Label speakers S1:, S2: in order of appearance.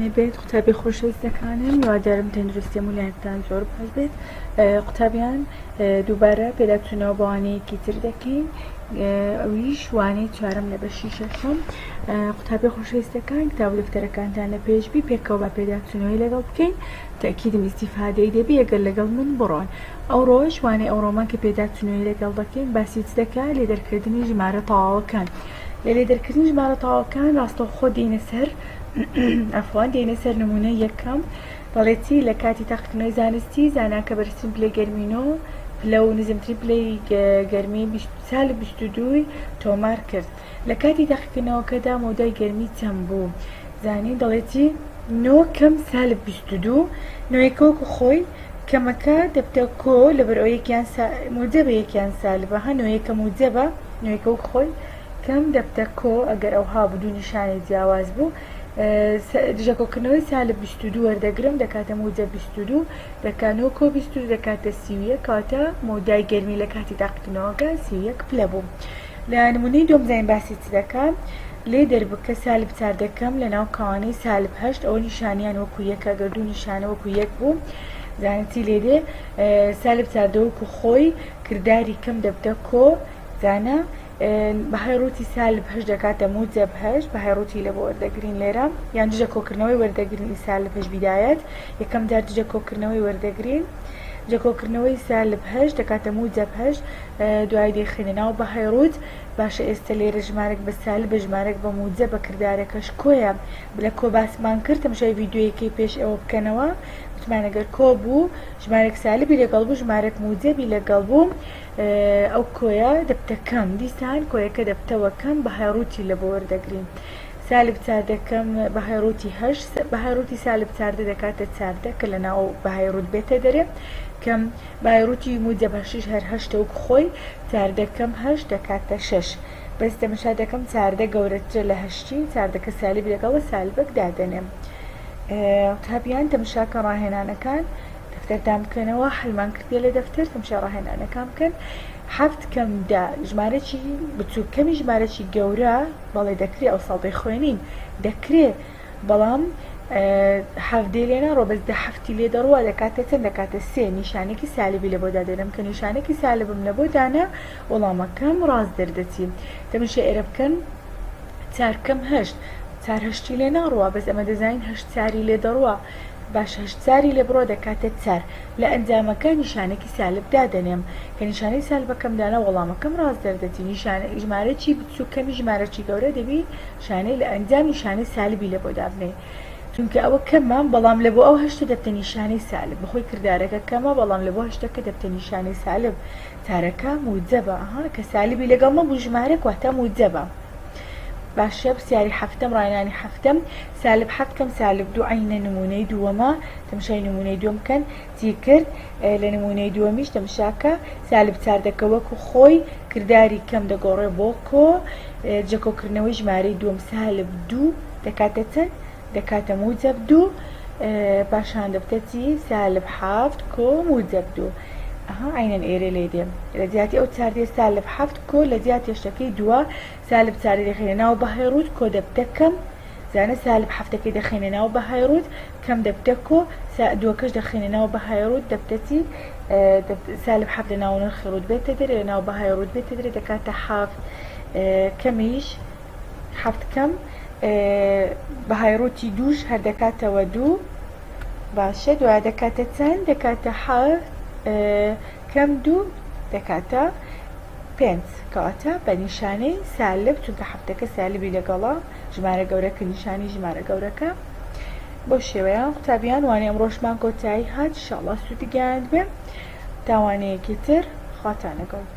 S1: نەبێت قوتابی خۆشەویستەکانم هیوادارم تەندروستی هەموو لایەکتان زۆر باش بێت قوتابیان دووبارە پێداچوونەوە بە وانەیەکی تر دەکەین ئەویش وانەی چوارەم لە بەشی شەشەم قوتابی خۆشەویستەکان کتاب و دەفتەرەکانتان لە پێشبی پێکەوە بە پێداچوونەوەی لەگەڵ بکەین تاکیدم ئیسیفادەی دەبی ئەگەر لەگەڵ من بڕۆن ئەوڕۆژ وانەی ئەوڕۆمان کە پێداچوونەوەی لەگەڵ دەکەین باسی چ دەکات لێ دەرکردنی ژمارە تەواوەکان لە لێ دەرکردنی ژمارە تەواوەکان ڕاستەوخۆ دێینە سەر دێینە سەر نموونەی یەکەم، دەڵێتی لە کاتی تاقیکردنەوەی زانستی، زانا کە بەرزترین پلەی گەرمی نۆ پلە و نزمترین پلەی گەرمی سالب بیست و دووی تۆمار کرد لە کاتی تاقیکردنەوەکەدا مەودای گەرمی چەند بوو؟ زانین دەڵێتی نۆ کەم سالب بیست و دوو نۆیەکە وەکو خۆی کەمەکە دەبتە کۆ لەبەرئەوەی یەکیان موجەبە یەکیان سالبە هە نۆیەکە موجەبە نۆیەکە وەکو خۆی کەم دەبتە کۆ ئەگەر ئەوها بوو دوو نیشانەی جیاواز بوو دژە کۆکردنەوەی سالب بیست و دوو وەردەگرم دەکاتە موجەب بیست و دوو دەکا نۆ کۆ بیست و دوو دەکاتە سی و یەک کەواتە مەودای گەرمی لە کاتی تاقیکردنەوەکە سی و یەک پلە بوو لە نمونەی دووەم زین باسی چ دەکا لێ دەربکە سالب چار دەکەم لە ناو کاوانەی سالب هەشت ئەوە نیشانیان وەکو یەکە گەر دوو نیشانە وەکو یەک بوو زانتی لێ دێ سالب چاردەوەکو خۆی کردداری کەم دەبتە کۆ زانە ن بەهای ڕووتی سالب هەشت دەکاتە موجەب هەشت بەهای ڕووتی لە بۆ وەردەگرین لێرە یان دژە کۆکردنەوەی وەردەگرین سالب هەشت بیدایەت یەکەم جار دژە کۆکردنەوەی وەردەگرین دژە کۆکردنەوەی سالب هەشت دەکاتە موجەب هەشت دوای دەیخەینە ناو بەهای ڕووت باشە ئێستا لێرە ژمارەک بە سالبە ژمارەک بە موجە بە کردارەکەش کۆیە لە کۆ باسمان کرد تەمشای ڤیددیویەکەی پێش ئەوە بکەنەوە وتمانەگەر کۆ بوو ژمارەک سالبی لەگەڵ بوو ژمارەک موجەبی لەگەڵ بوو ئەو کۆیە دەبتە کەم دیسان کۆیەکە دەبتەوە کەم بەهای ڕووتی لە بۆ وەردەگرین سالب چاردە کەم بەهای ڕووتی هەشت بەهای ڕووتی سالب چاردە دەکاتە چاردە کە لە ناو بەهای ڕووت بێتە دەرێ کەم بای ڕووتی موجب هەشیش هەر هەشتە وەک خۆی چاردە کەم هەشت دەکاتە شەش بەس تەمەشا دەکەم چاردە گەورەترە لە هەشتی چاردەکە سالبی لەگەڵە سالبەک دادەنێم قوتابیان تەمەشاکە ڕاهێنانەکان دەفتەر دان بکەنەوە حەلمان کردیە لە دەفتەر تەمشای ڕاهێنانەکان بکەن حەفت کەم دە ژمارەی بچوو کەمی ژمارەی گەورە بەڵێ دەکرێ ئەو ساڵ دەیخوێنین دەکرێ بەڵام حەفدەی لێ ناڕۆ بەس دە هەفتی لێ دەڕوە دەکاتە چەند دەکاتە سێ نیشانێکی سالبی لە بۆدا دێنم کە نیشانێکی سالبم لە بۆ دانا وەڵامەکەم ڕاز دەردەچی تەمشە ئێرە بکەن چارکەم هەشت چارهشتی لێ ناڕوە بەس ئەمە دەزانین هەشت چاری لێ دەڕوە باش هەشت زاری لێ بڕۆ دەکاتە چار لە ئەنجامەکە نیشانەکی سالب دادەنێم کە نیشانەی سالبەکەم دانا وەڵامەکەم ڕاست دەردەچی نیشانە ژمارەچی بچوک کەمی ژمارەچی گەورە دەبی شانەی لە ئەنجام نیشانەی سالبی لە بۆ دابنێی چونکە ئەوە کەمە بەڵام لە بۆ ئەو هەشتە دەبتە نیشانەی سالب بەخۆی کردارەکە کەمە بەڵام لە بۆ هەشتەکە دەبتە نیشانەی سالب چارەکە موجەبە ئەها کە سالبی لەگەڵ نەبوو ژمارەک واتە موجەبە باشە پرسیاری حەفتەم ڕاینانی حەفتەم سالب حەفت کەم سالب دوو عەینە نموونەی دووەمە تەمشای نموونەی دووەم بکەن جیکرد لە نموونەی دووەمیش تەمشاکە سالب چار دەکە وەکو خۆی کرداری کەم دەگۆڕێ بۆ کۆ جەکۆکردنەوەی ژمارەی دووەم سالب دوو دەکاتە چەند دەکاتە موجەب دوو پاشان دەبتە چی سالب حەفت کۆ موجەب دوو ئەها عینەن ئێرێ لێ دێ لە جیاتی ئەو چار دێ سالب حەفت کۆ لە جیاتی شتەکەی دووە سالب چاری دەخەینە ناو بەهای ڕووت کۆ دەبتە کەم زانە سالب حەفتەکەی دەخەینە ناو بەهای ڕووت کەم دەبتە کۆ سا دووەکەش دەخەینە ناو بەهای ڕووت دەبتە چی سالب حەفت لە ناو نرخی ڕووت بێتە دەرێ لە ناو بەهای ڕووت بێتە دەرێ دەکاتە حەفت کەمیش حەفت کەم بەهای ڕووتی دووش هەر دەکاتەوە دوو باشە دوای دەکاتە چەند دەکاتە حەفت کەم دوو دەکات تا پێنج کەواتە بە نیشانەی سالب چونکە حەفتەکە سالبی لەگەڵە ژمارە گەورەکە نیشانی ژمارە گەورەکە بۆ شێوەیە قوتابیان وانە ئەمڕۆژمان کۆتایی هات شاڵا سوودی گەیاند بێ تاوانەیەکی تر خواتان لەگەڵ